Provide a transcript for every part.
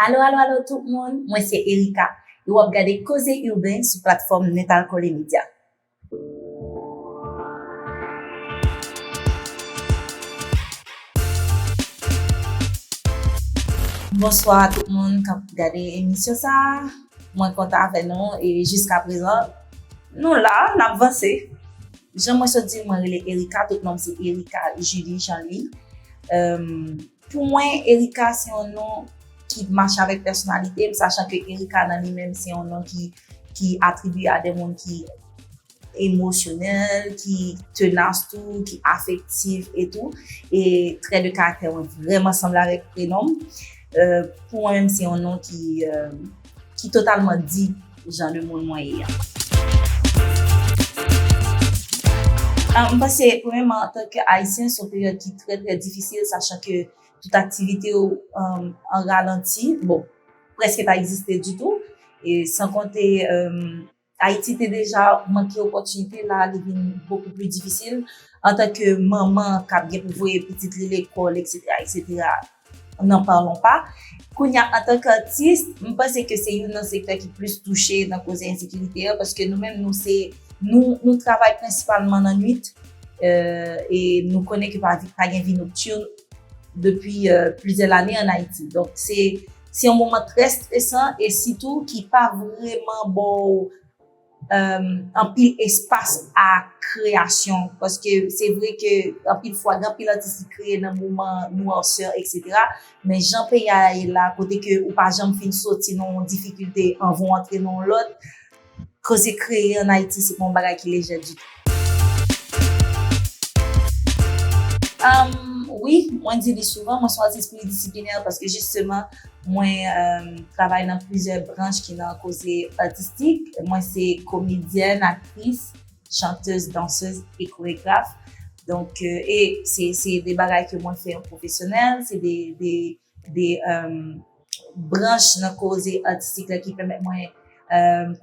Alo alo alo tout moun, mwen se Erika e wap gade Koze Urbain sou platfòm Netalkole Media. Bonswa a tout moun kap gade emisyon sa, mwen kontan avè nou e jiska prezan nou la nap vanse. Jan mwen sot di mwen rele Erika tout nonm se Erika Julie Jean Louis. Pou mwen Erika se yon non ki mache avèk pèsonalite m sachan ke Erika nan li menm se yon non ki atribye a de moun ki emosyonèl, ki tenas tou, ki afektif etou e trè de karaktè mwen vreman sanble avèk prenom m. Pou mwen menm se yon non ki. ki totalman di jan de moun mwen ye a. M panse premèman an tanke Ayisyen son peryòd ki trè trè difisil sachan ke tout aktivite yo an ralanti, bon, preske pa egziste ditou, san konte. Ayiti te deja manke opòtinite, la a li vin bokou pli difisil. Antanke manman k ap gen pou voye pitit li lekòl eksetera eksetera, n'en parlons pas. Kounye a antanke atis, m panse ke se youn nan sektè ki plis touche nan koze ensekirite an paske nou menm nou se, nou travay prensipalman nan nwit e nou konnen ke pa gen vi nokturn depi plizyè lane an Ayiti. Donk se Se yon moman trè stresan e sitou ki pa vreman ba w anpil espas a kreyasyon. Paske se vre ke anpil fwa gen anpil atis ki kreye nan moman nwarsè eksetera. Men jan peyi a ye la kote ke ou pa janm fin soti nan yon difikilte anvan w antre nan yon lòt. Koze kreye an Ayiti se pa yon bagay ki lejè ditou. Wi, mwen di li souvan, mwen se yon atis plidisiplinè paske jisteman mwen travay nan plizyè branch ki nan koze atistik. Mwen se komedyèn, aktris, chantez, dansez e koregraf. Donk, se de bagay ke mwen fè an pwofesyonèl. Se de... branch nan koze atistik la ki pèmèt mwen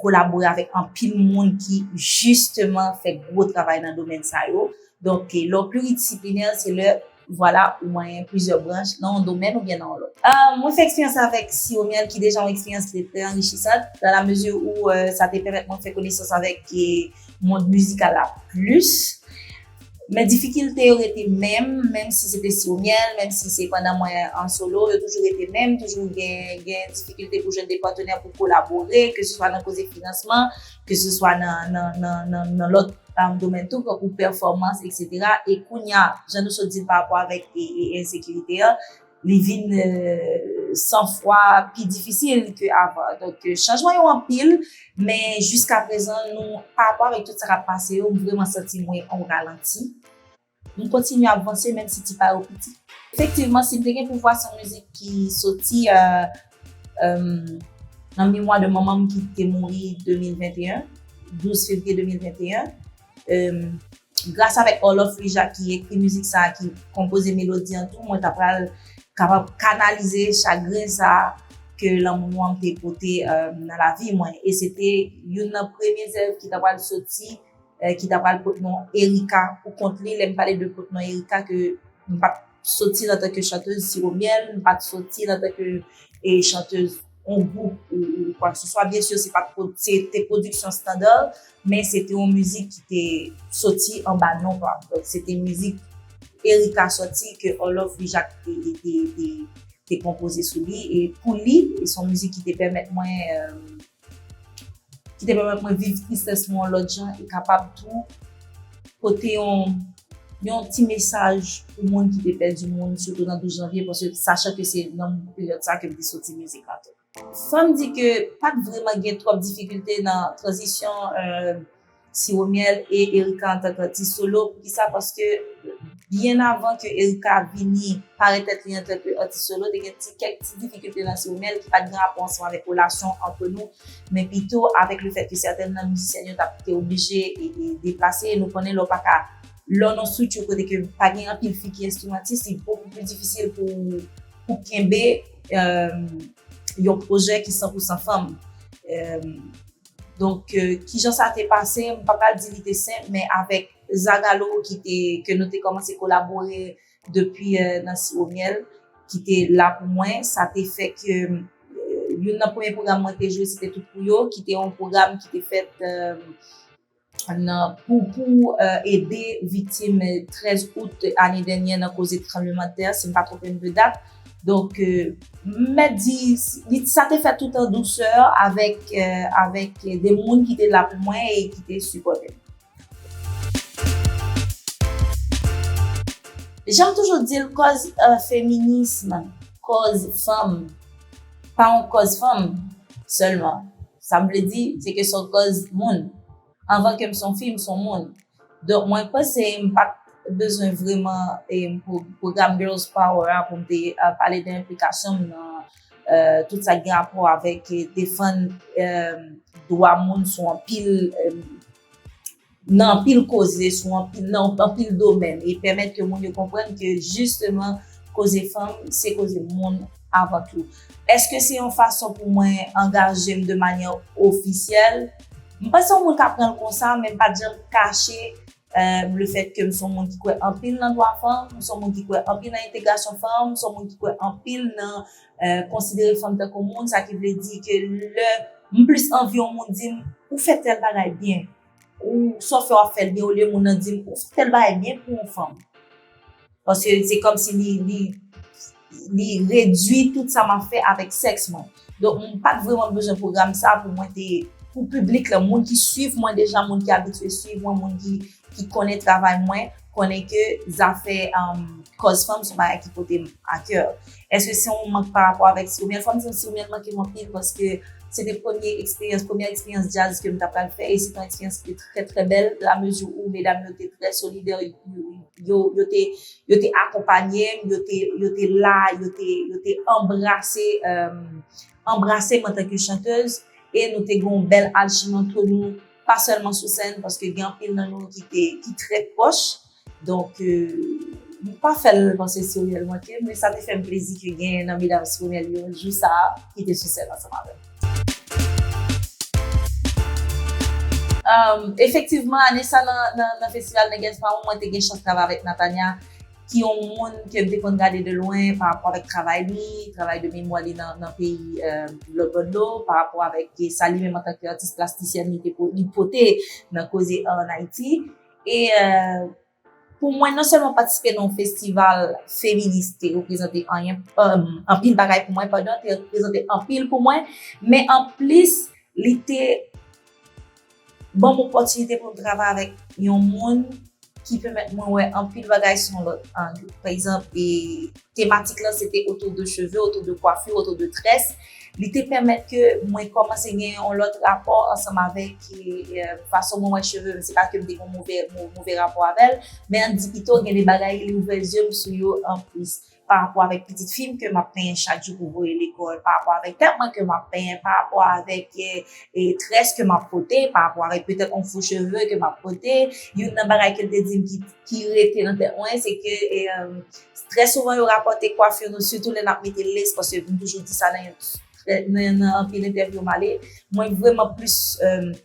kolabore avèk anpil moun ki jisteman fè gwo travay nan domèn sa yo. Donk, lè w pliridisiplinè, se lè, vwala, ou manyen plizyè branch nan yon domèn oubyen nan yon lòt. Mwen fè eksperyans sa avèk Siromyèl ki deja yon eksperyans ki te trè anrichisant, nan la mezi ou sa te pèmèt mwen fè konesans avèk mond mizikal la plis. Men difikilte yo rete menm, menm si se te siwo myèl, menm si se pandan mwen an solo, yo toujou rete menm, toujou gen difikilte pou jwenn de patenè pou kolabore, ke se swa nan koze finansman, ke se swa nan lòt domèn tou, tankou pèfòmans, eksetera. E kounya, jan nou sot di l pa rapò avèk ensekirite an, li vin san fwa pi difisil ke avan. Donk chanjman yo anpil, men jiska prezan nou pa rapò avèk tout sa kap pase yo, m vreman santi mwen an ralanti. M kontinye ap vanse menm si ti pa yo piti. Efektivman, si m te gen pouvwa son mizik ki soti nan memwa de manman m ki te mouri 2021, 12 fevriye 2021. Gras avèk Orloff Rija ki ekri mizik sa ki konpoze melodi an tou mwen ta pral kapab kanalize chagren sa ke lanmou an te pote nan lavi mwen e se te youn nan premye zèv ki ta pral soti ki ta pral pot non Erika pou kont li lè m pale de pot non Erika ke m pa Soti nan tanke chantez siwo myèl, m pat soti nan tanke e chantez on gwoup ou kwakseswa. Byen sur se pat se te pwodiksyon standa, men se te on mizik ki te soti anba non pa m. Donk se te mizik Erika soti ke Olofri Jak te konpoze sou li e pou li. E s on mizik ki te pèmèt mwen. Ki te pèmèt mwen viv tristès mwen yon lòt jan e kapab tou pote yon ti mesaj pou moun ki te pèdi moun sitou nan 12 janvye paske sachan ke se nan peryòd sa ke m te soti mizik la tou. Fò m di ke pa t vreman gen twòp difikilte nan tranzisyon. Siwo Myèl e Erika antan k atis solo, poukisa paske byen avan ke Erika vini parèt tèt li antan ke atis solo te gen ti kèk ti difikilte nan Siwo Myèl ki pa t gen rapò ansanm avèk relasyon antre nou men pito avèk le fèt ke sètèn nan mizisyèn yo t ap te oblije deplase e nou konnen lè w pa ka lè w nan yon strikti kote ke pa gen anpil fi ki enstrimantis li bokou pli difisil pou ou kenbe yon pwojè ki san pou san fanm. Donk kijan sa te pase, m pa pral di li te senp men avèk Zagalo ki te, ke nou te kòmanse kolabore depi nan Siwo Myèl ki te la pou mwen, sa te fè ke youn nan premye pwogram mwen te jwe se te Tout pou yo ki te yon pwogram ki te fèt. nan pou pou ede viktim 13 out ane dènyè nan koze tranbleman tè si m pa twonpe m de dat donk m mèt di sa te fèt tout an dousè avèk de moun ki te la pou mwen e ki te sipòte m. Jan m toujou di l kòz feminism kòz fanm pa yon kòz fanm sèlman. Sa m vle di, se ke son kòz moun. Anvan ke m son fi, m son moun. Donk mwen panse m pa t bezwen vreman pwogram Girls Power a pou m te pale de enplikasyon m nan tout sa ki gen rapò avèk defann dwa moun sou anpil. nan anpil koze sou anpil nan anpil domèn e pèmèt ke moun yo konprann ke jisteman koze fanm se koze moun avan tou. Eske se yon fason pou mwen angaje m de manyè ofisyèl? M pa se yon moun k ap pran l konsa men m pa t janm kache le fèt ke m se yon moun ki kwè anpil nan dwa fanm, m se yon moun ki kwè anpil nan entegrasyon fanm, m se yon moun ki kwè anpil nan Konsidere fanm tankou moun, sa ki vle di ke lè m plis anvi yon moun di m, ou fè tèl bagay byen, ou sa w fè w ap fè l byen olye moun nan di m, ou fè tèl bagay byen pou yon fanm. Paske se kòm si li redui tout sa m ap fè avèk sèks mwen. Donk m pa t vreman bezwen pwogram sa pou mwen te, pou piblik la, moun ki suiv mwen deja, moun ki abitye suiv mwen, moun ki ki konnen travay mwen, konnen ke zafè kòz fanm se yon bagay ki pote m a kè. Eske se yon mank parapò avèk Siomel? Fò m di w Siomel manke m anpil paske se te premye eksperyans, premyè eksperyans djaz ke m ta pral fè e se te yon eksperyans ki te trè trè bèl la mezi ou medam yo te trè solidè, yo te akonpanye m, yo te la, yo te anbrase, anbrase m antanke chantez e nou te gen yon bèl alchimi antre nou. pa sèlman sou sèn paske gen anpil nan nou ki te ki trè pwòch donk nou pa fè l nan se seryèzman ke men sa te fè m plezi ke gen nan medam Simonel yo jou sa a ki te sou sèn ansanm avè m. Efektivman ane sa nan festival Nègès pa won mwen te gen chans travay avèk Natania. ki yon moun ke m te konn gade de lwen pa rapò avèk travay li, travay de memwa li nan peyi lòt bò dlo, pa rapò avèk sa li menm an tan ke atis plastisyèn li te pote nan koze ar an Ayiti. E pou mwen non sèlman patisipe nan yon festival feminis te reprezante anyen, anpil bagay pou mwen, pandan te reprezante anpil pou mwen, men anplis li te Banm opòtinite pou m travay avèk yon moun ki pèmèt mwen wè anpil bagay sou yon lòt ang. Pa egzanp, tematik lan se te otou de cheve, otou de kwafi, otou de très. Li te pèmèt ke mwen kòmanse gen yon lòt rapò ansanm avèk fason mwen wè cheve m. Se pa ke m te gen yon move rapò avè l, men an n di pito gen de bagay li ouvè zye m sou yo anplis. pa rapò avèk pitit fi m ke m ap penyen chak jou pou voye lekòl, pa rapò avèk tèt mwen ke m ap penyen, pa rapò avèk très ke m ap pote, pa rapò avèk petèt yon fo cheve ke m ap pote. Youn nan bagay ke l te di m ki rete nan tèt mwen se ke trè souvan yo rapòte kwafir nou sitou lè n ap mete lace paske m toujou di sa nan anpil entèvyou m ale, mwen vrèman plis.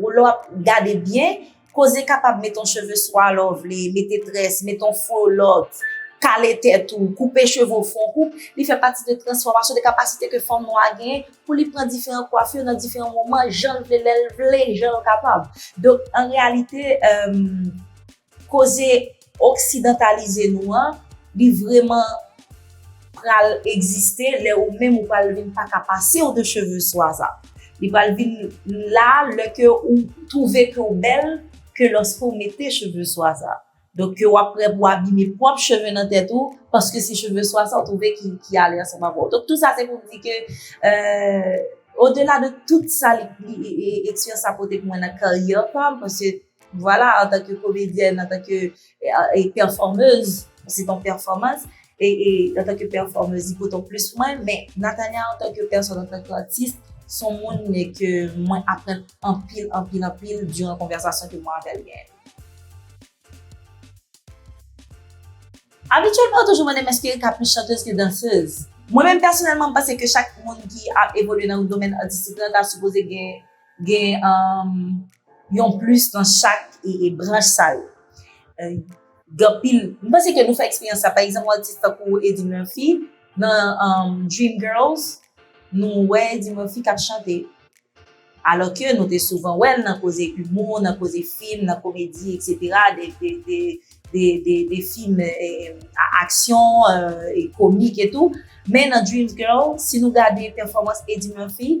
Ou lè wap gade byen, koze kapab met yon cheve swa lè w vle, mete tres, mete yon fo lòt, kale tèt ou, koupe cheve w fon koup, li fè pati de transfòmasyon, de kapasite ke fanm nwa genyen pou li pran diferan kwafir nan diferan moman, jan l vle, lè l vle, jan l kapab. Donk, an reyalite, emm. Koze oksidantalize nou an, li vreman pral egziste lè ou menm ou pral vin pa ka pase w de cheve swa sa. Li pral vin la lè ke ou twouve ke w bèl ke lòske w mete cheve swa sa. Donk ke w ap prè pou w abime pwòp cheve nan tèt ou paske se cheve swa sa w twouve ki ale ansanm avè w. Donk tou sa se pou m di ke odela de tout sa li eksperyans sa pote pou mwen nan karyè pa m paske Vwala antanke komedyèn, antanke pèfòmez, se ton pèfòmans, antanke pèfòmez li pote plis pou mwen, men Natania antanke pèsòn, antanke atis, son moun ke mwen aprann anpil, anpil, anpil diran konvèsasyon ke mwen avèl genyen. Abityèlman yo toujou mande m èske Erika plis chantez ke dansez? Mwen menm pèsonèlman m panse ke chak moun ki ap evolye nan yon domèn atistik la ta sipoze gen, gen. Yon plis nan chak branch sa yo. Gen pil, m panse ke nou fè eksperyans sa, pa egzanp yon atis tankou Eddie Murphy nan Dream Girls, nou wè Eddie Murphy k ap chante. Alò ke nou te souvan wè l nan koze imou, nan koze fim, nan komedi eksetera, de fim a aksyon, komik etou. Men nan Dream Girls, si nou gade pèfòmans Eddie Murphy,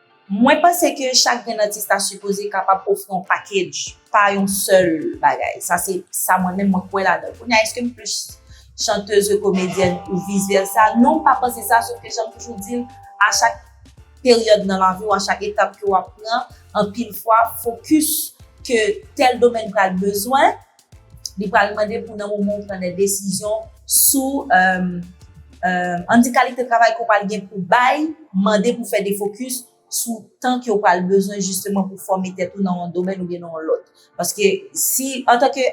Mwen panse ke chak grenn atis ta sipoze kapab ofri yon package, pa yon sèl bagay. Sa se sa mwen menm mwen kwè ladan. Kounye a eske m plis chantez ke komedyèn ou vis vèsa? Non m pa panse sa sof ke jan m toujou di l a chak peryòd nan lavi w, a chak etap ke w ap pran, anpil fwa fokis ke tèl domèn pral bezwen, Li pral mande pou nan moman ou pran de desizyon sou an di kalite travay ke w pral gen pou bay, mande pou fè de fokis sou tan ke w pral bezwen jisteman pou fòme tèt ou nan yon domèn oubyen nan yon lòt. Paske si antanke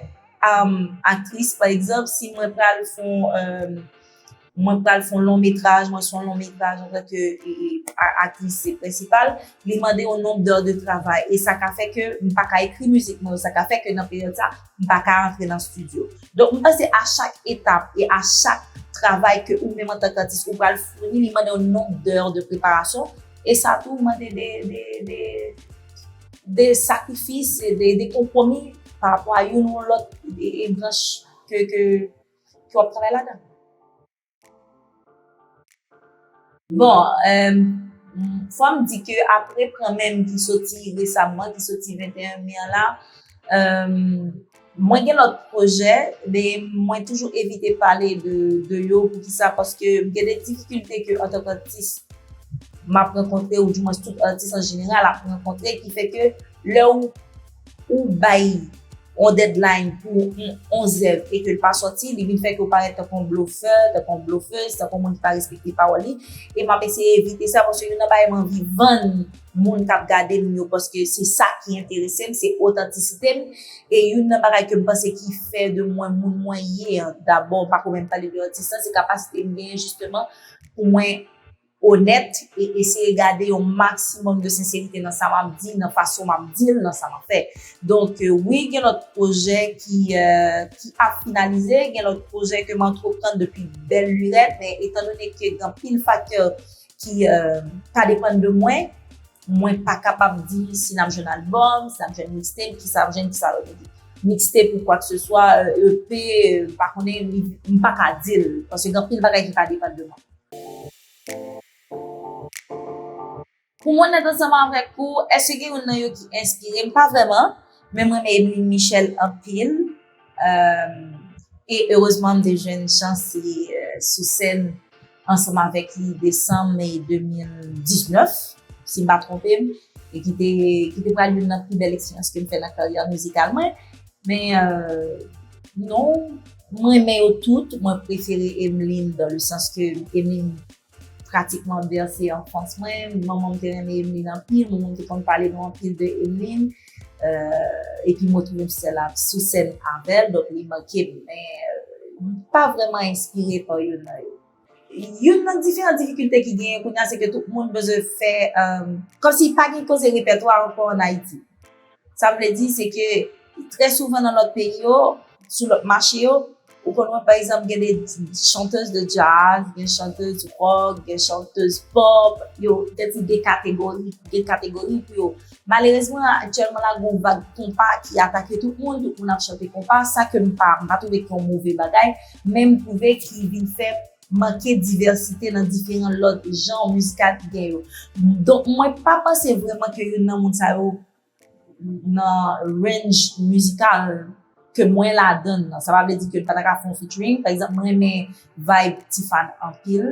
aktris pa egzanp, si mwen pral fon. Mwen pral fon long metraj, mwen son long metraj an tan ke aktris prensipal, li mande yon nomb d'heures de travay e sa ka fè ke m pa ka ekri mizik mwen yo, sa ka fè ke nan peryòd sa m pa ka antre nan stidyo. Donk m panse a chak etap e a chak travay ke ou menm antan k'atis ou pral founi li mande yon nomb d'heures de preparasyon e sa tou mande de sakrifis e de konpwomi pa rapò a youn ou lòt branch ke Ki wap travay ladan. Bon, fò m di ke apre pran menm ki soti resamman, ki soti 21 me an la, mwen gen lòt pwojè, men mwen toujou evite pale de yo, pou ki sa, paske m gen de difikilte ke an tank atis, m ap rankontre, ou di mwen tout atis an jeneral ap rankontre, ki fè ke lè ou. ou bay yon deadline pou yon zèv e ke l pa sòti, li vin fè ke w parèt tankou yon blofè, tankou yon blofez, tankou yon moun ki pa respekte pawòl li, e m ap eseye evite sa, paske youn nan bagay m anvi vann moun k ap gade m yo, paske se sa ki enterese m, se otantisite m, e youn nan bagay ke m panse ki fè de mwen moun mwen ye an, dabò, m pa ko menm pale de atis lan, se kapasite m genyen jisteman pou mwen. onèt e eseye gade yon maksimòm de senserite nan sa m ap di, nan fason m ap di l, nan sa m ap fè. Donk, wi gen lòt pwojè ki ap finalize, gen lòt pwojè ke m antreprann depi bèl lurèt, men etan done ke gen anpil faktè ki pa depann de mwen, mwen pa kapab di si n ap jwenn albòm, si n ap jwenn mixtape, ki sa n ap jwenn, ki sa n ap jwenn. Mixtape ou kwakseswa, EP, m pa konnen, m pa ka di l, paske gen anpil bagay ki pa depann de mwen. Pou mwen nèt ansanm avèk ou, èske gen youn nan yo ki enspire m? Pa vrèman, men m renmen Emeline Michel anpil. E erezman m te jwenn chans li sou sèn ansanm avèk li desanm 2019, si m pa twonpe m, e ki te pral youn nan pi bèl eksperyans ke m fè nan karyè mizikal mwen. Men non, M renmen yo tout, mwen prefere Emeline dans le sens ke Emeline pratikman berse anfans mwen, manman m te renmen Emeline anpil, manman m te konn pale nou anpil de Emeline, epi mwen trouve m sèl sou sèn avèl donk li manke m, men m pa vrèman enspire pa youn nan yo. Youn nan diferan difikilte ki genyen kounye a se ke tout moun bezwen fè, kòm si pa gen koze repètwa ankò an Ayiti. Sa m vle di se ke trè souvan nan lòt peyi yo, sou lòt mache yo, ou konn wè pa egzanp gen de chantez de djaz, gen chantez ròk, gen chantez pòp, yo gen ti de kategori, gen kategori pou yo. Malerezman, aktyèlman la gen yon vag konpa ki atake tout moun, tout moun ap chante konpa, sa ke m pa, m pa twouve ki yon move bagay. men m twouve ki vin fè manke divèsite nan diferan lòt janr miskal ki gen yo. Donk mwen pa panse vrèman ke youn nan moun sa yo nan range mizikal ke mwen ladan l lan. Sa pa vle di ke m pa ta ka fè yon featuring. Pa egzanp, m renmen vibe T-Fan anpil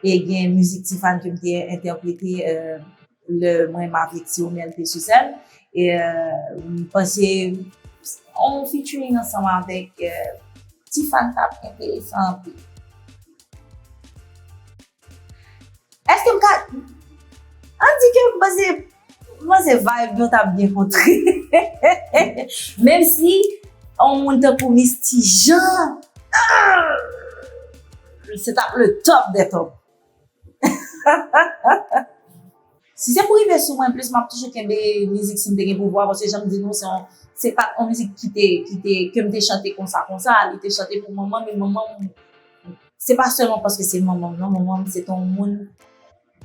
e gen mizik T-Fan ke m te entèprete. Le mwen m avek ti omel te sou sèn e m panse on featuring ansanm avek ti fany tap enteresan anpil. Eske m ka an di ke m panse m panse vibe nou tap byen kontre hehehe menm si on moun tankou Misty Jean aah se tap le top de top. Si se pou rive sou mwen plis map toujou kenbe mizik sim te gen pouvwa paske janm di nou se yon se pat yon mizik ki te ki te kem te chante konsa konsa li te chante pou manman m e manman m se pa sèlman paske se manman m nan manman m se te yon moun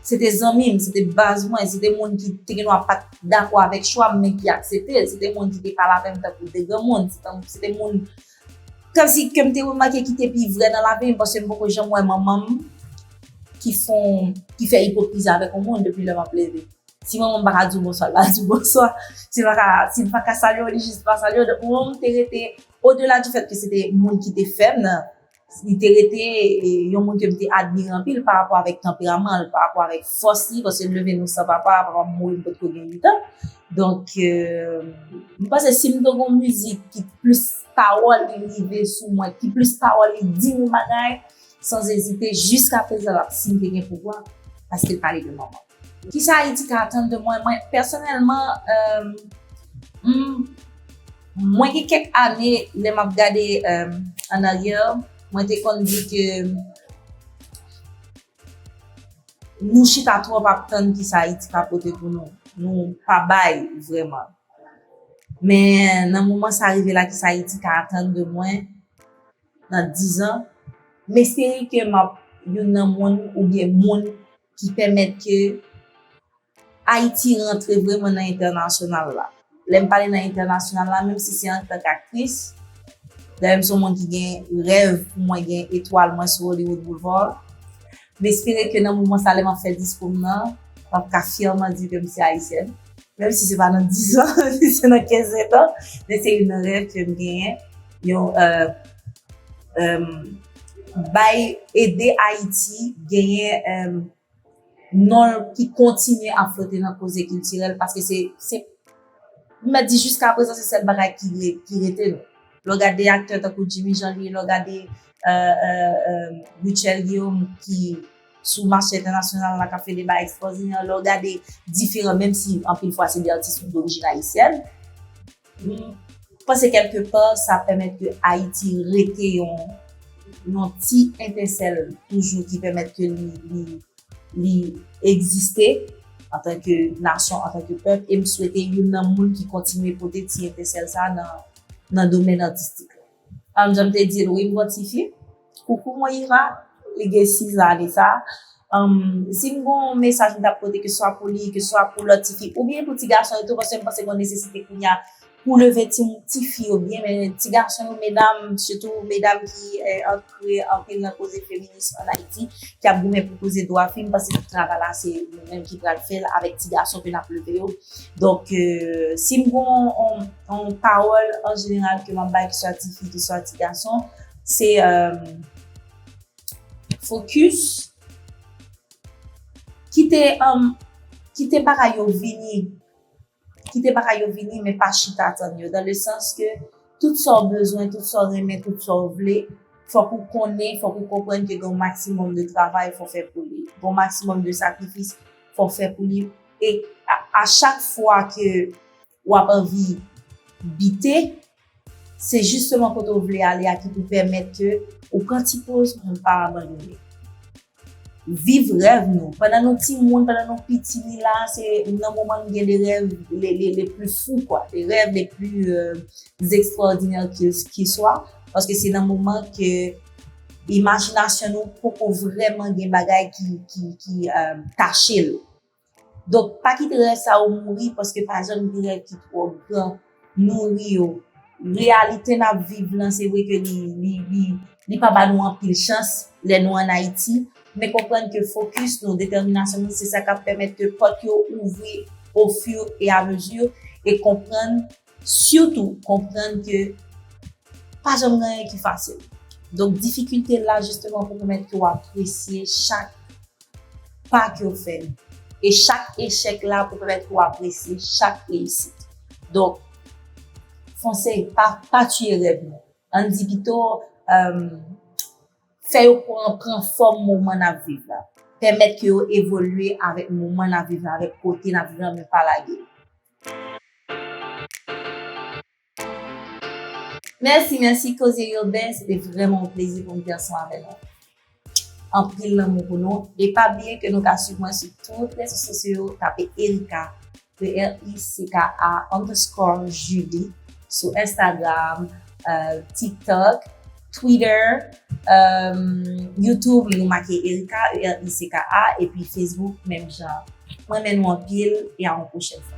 se te zanmi m se te baz mwen se te moun ki te gen dwa pat dakò avèk chwa m men ki aksepte l se te moun ki te pale avè m tankou de granmoun se te moun Kantik ke m te remake ki te pi vrè nan lavi m paske m poko janm wè manman m ki fon, ki fè ipokrizi avèk yon moun depi lè m ap leve. Si manman m pa ka di w bonswa, l pa di w bonswa. Si l pa ka, si l pa ka salye w, li jis pa salye w. Donk manman m te rete, odela di fèt ke se te moun ki te fè m nan, li te rete yon moun ke m te admire anpil parapò avèk tanperaman l, parapò avèk fòs li paske m leve nou san papa, papa m mouri m potko gen 8 an. Donk, mwen panse si m te gen yon mizik ki plis pawòl li rive sou mwen, ki plis pawòl li di m yon bagay, san ezite, jiskaprezan l ap, si m te gen pouvwa, sa se te pale de manman m. Kisa Ayiti ka atann de mwen? Mwen, pèsonèlman, mwen gen kèk ane, lè m ap gade annaryè, mwen te konn di ke Nou chita trop ap tann kisa ayiti ka pote pou nou nou pa bay vreman men nan moman sa rive la kisa ayiti ka atann de mwen nan 10 ans m espere ke map youn nan moun oubyen moun ki pèmèt ke Ayiti rantre vreman nan entènasyonal la. Lè m pale nan entènasyonal la, menm si se antank aktris, dayè m se yon moun ki gen rèv pou mwen gen etwal mwen sou Hollywood Boulevard, m espere ke nan moman sa lè m ap fè diskou m nan, m ap ka fyèman di ke m se ayisyèn. Menm si se pa nan dizan, menm si se nan kenzetan, men se youn nan rèv ke m genyen, yon bay ede Ayiti genyen. non l ki kontinye ap flote nan koze kiltirèl paske se se m mèt di jiskaprezan se sèl bagay ki re ki rete nou lè w gade aktè tankou Djimi Janvye lè w gade Rutshelle Guillaume ki sou mache entènasyonal la k ap fè deba ekstwòdinè lè w gade diferan menm si anpil fwa se de atis ki dorijin ayisyèn M panse kèlke pa sa pèmèt ke Ayiti rete yon yon ti etensèl toujou ki pèmèt ke li li li egziste antanke nasyon, antanke pèp e m swete youn nan moun ki kontinye pote ti etensèl sa nan nan domèn atistik la. Tanm janm te dil wi m gon tifi koukou mwen Iva li gen 6 lane sa humm sim gon mesaj m tap pote keswa pou li keswa pou lòt tifi oubyen pou ti gason yo tou paske m panse gon nesesite kounya pou leve tifi yo byen men ti gason yo medam sitou medam ki kreye anpil nan koze feminis an Ayiti ki ap goumen pou koze dwa fi m pase tout travay la se nou menm ki pral fè l avèk ti gason ke n ap leve yo. Donk, si m gon on pawòl an jeneral ke m ap bay ki swa ti fi ki swa ti gason, se fokis, kite bagay yo vini. Kite bagay yo vini men pa chita tann yo dan le sans ke tout sa w bezwen, tout sa w renmen, tout sa w vle, fòk ou konnen, fòk ou konprann ke gen yon maksimòm de travay fò fè pou li, gen yon maksimòm de sakrifis fò fè pou li e a chak fwa ke w ap anvi bite. Se jisteman kote ou vle ale a ki pou pèmèt ke ou pran ti poz pou ou pa abandone. Viv rèv nou. Pandan nou timoun, pandan nou piti, ni la a se nan moman nou gen de rèv le pli fou kwa, de rèv le pli ekstraòdinè ki swa, paske se nan moman ke imajinasyon nou poko vreman gen bagay ki kache l. Donk, pa kite rèv sa yo mouri paske pa janm gen rèv ki twò gran. Nouri yo. Reyalite n ap viv lan, se vre ke li pa ba nou anpil chans lè nou ann Ayiti, men konprann ke fokis nou, detèminasyon nou se sa k ap pèmèt ke pòt yo ouvri ofiw e amezi e konprann Sitou konprann ke pa janm gen anyen ki fasil. Donk difikilte la jisteman pou pèmèt ke w apresye chak pa ke w fè. E chak echèk la pou pèmèt ke w apresye chak reyisit. Donk, fonse, pa tiye rèv nou. An n di pito, fè yo pran fòm moman n ap viv la. Pèmèt ke yo evolye avèk moman n ap viv la, avèk kote n ap viv la men pa lage. Mèsi mèsi koze Urbain se te vrèman yon plezi pou m te ansanm avè nou. Anpil lanmou pou nou e pa bliye ke nou ka swiv mwen sou tout rezo sosyo yo tape Ericka ERICKA underscore Julie sou Instagram, Tik Tok. Twitter, YouTube li nou make Ericka, E-R-I-C-K-A, epi Facebook menm jan. M renmen nou anpil e a yon pwochèn fwa.